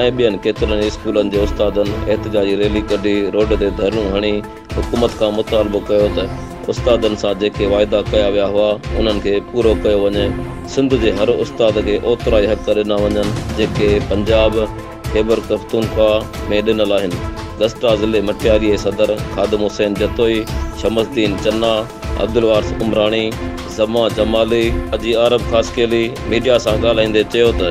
۽ ٻين ڪيترن ئي اسڪولن جي استادن احتجاجي ريلي ڪڍي روڊ تي ڌرڻيون هڻي حڪومت کان مطالبو ڪيو ته استادن سان جيڪي واعدا ڪيا ويا هئا انهن کي پورو ڪيو وڃي سنڌ جي هر استاد کي اوترائي حق ڏنا وڃن جيڪي پنجاب خيبرپختونخوا ۾ ڏنل آهن گسٽا ضلعي مٽياري جي صدر خادم حسين جتوئي شمس الدين چنا عبدالوارث عمراڻي زمان جمالي حاجي عارب خاصخيلي ميڊيا سان ڳالهائيندي چيو ته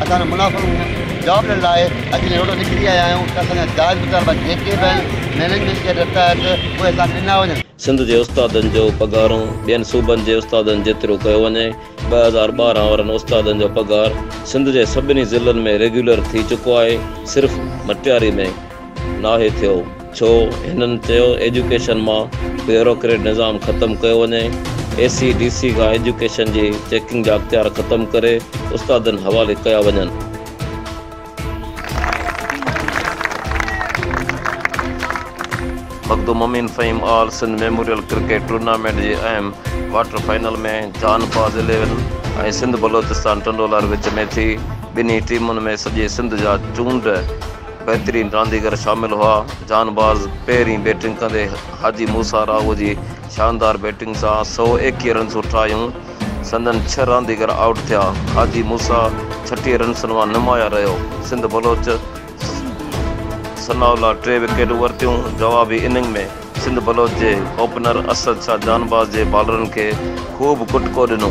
اسان جو منافعو هو، جاب ڏيڻ لاء اچي جي روڊ تي نڪري آيا آهيون ته اسان جا جائز مطالبا جيڪي به آهن مئنيجمينٽ جي هدايت تحت اهي اسان کي ڏنا وڃن. سنڌ جي استادن جو پگهارون ٻين صوبن جي استادن جيترو ڪيو وڃي، ٻه هزار ٻارهن وارن استادن جو پگهار سنڌ جي سڀني ضلعن ۾ ريگيولر ٿي چڪو آهي، صرف مٽياري ۾ ناهي ٿيو ڇو هنن چيو ايجوڪيشن مان بيوروڪريٽ نظام ختم ڪيو وڃي اي سي ڊي سي کان ايجوڪيشن جي چيڪنگ جا اختيار ختم ڪري استادن حوالي ڪيا وڃن. Makhdoom Amin Fahim all Sindh memorial cricket tournament جي اهم ڪوارٽر فائنل ۾ جهان فاز اليون ۽ سنڌ بلوچستان ٽنڊو لهر وچ ۾ ٿي ٻنهي ٽيمن ۾ سڄي سنڌ جا چونڊ بهترين رانديگر شامل هئا، جان بارز پهرين بيٽنگ ڪندي حاجي موسيٰ راهوء جي شاندار بيٽنگ سان سؤ ايڪيهه رنسون ٺاهيون، سندن ڇهه رانديگر آئوٽ ٿيا، حاجي موسيٰ ڇٽيهه رنسن مان نمايان رهيو، سنڌ بلوچ ثناء الله ٽي وڪيٽون ورتيون، جوابي اننگ ۾. سنڌ بلوچ جي اوپنر اسد شاهه جان باز جي بالرن کي خوب ڪٽڪو ڏنو،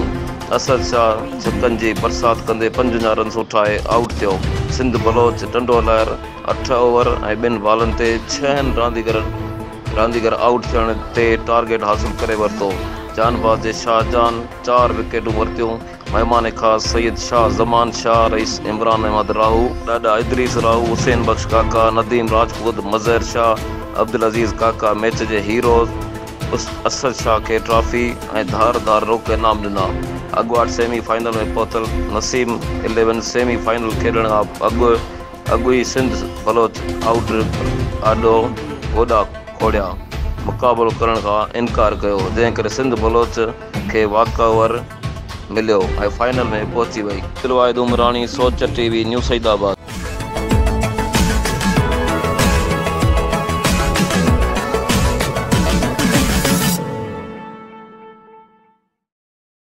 اسد شاهه ڇڪن جي برسات ڪندي پنجونجاهه رنس اٺائي آئوٽ ٿيو، سنڌ بلوچ ٽنڊو لهر اٺ اوور ۽ ٻن بالن تي ڇهن رانديگر آئوٽ ٿيڻ تي ٽارگيٽ حاصل ڪري ورتو، جان باز جي شاهه جان چار وڪيٽون ورتيون. مهمان خاص سيد شاهه زمان شاهه، رئيس عمران احمد راهو، ڏاڏا ادريس راهو، حسين بخش ڪاڪا، نديم راجپوت، مظهر شاهه، عبدالعزيز ڪاڪا ميچ جي هيروز اسد شاهه کي ٽرافي ۽ ڌار ڌار روڪ انعام ڏنا. اڳواٽ سيمي فائنل ۾ پهتل نسيم اليون سيمي فائنل کيڏڻ کان اڳ اڳ ئي سنڌ بلوچ آئوٽ آڏو گوڏا کوڙيا مقابلو ڪرڻ کان انڪار ڪيو جنهن ڪري سنڌ بلوچ کي واڪ اوور مليو ۽ فائنل ۾ پهچي وئي. عبدالواحد عمراڻي سوچ ٽي وي نيو سعيد آباد.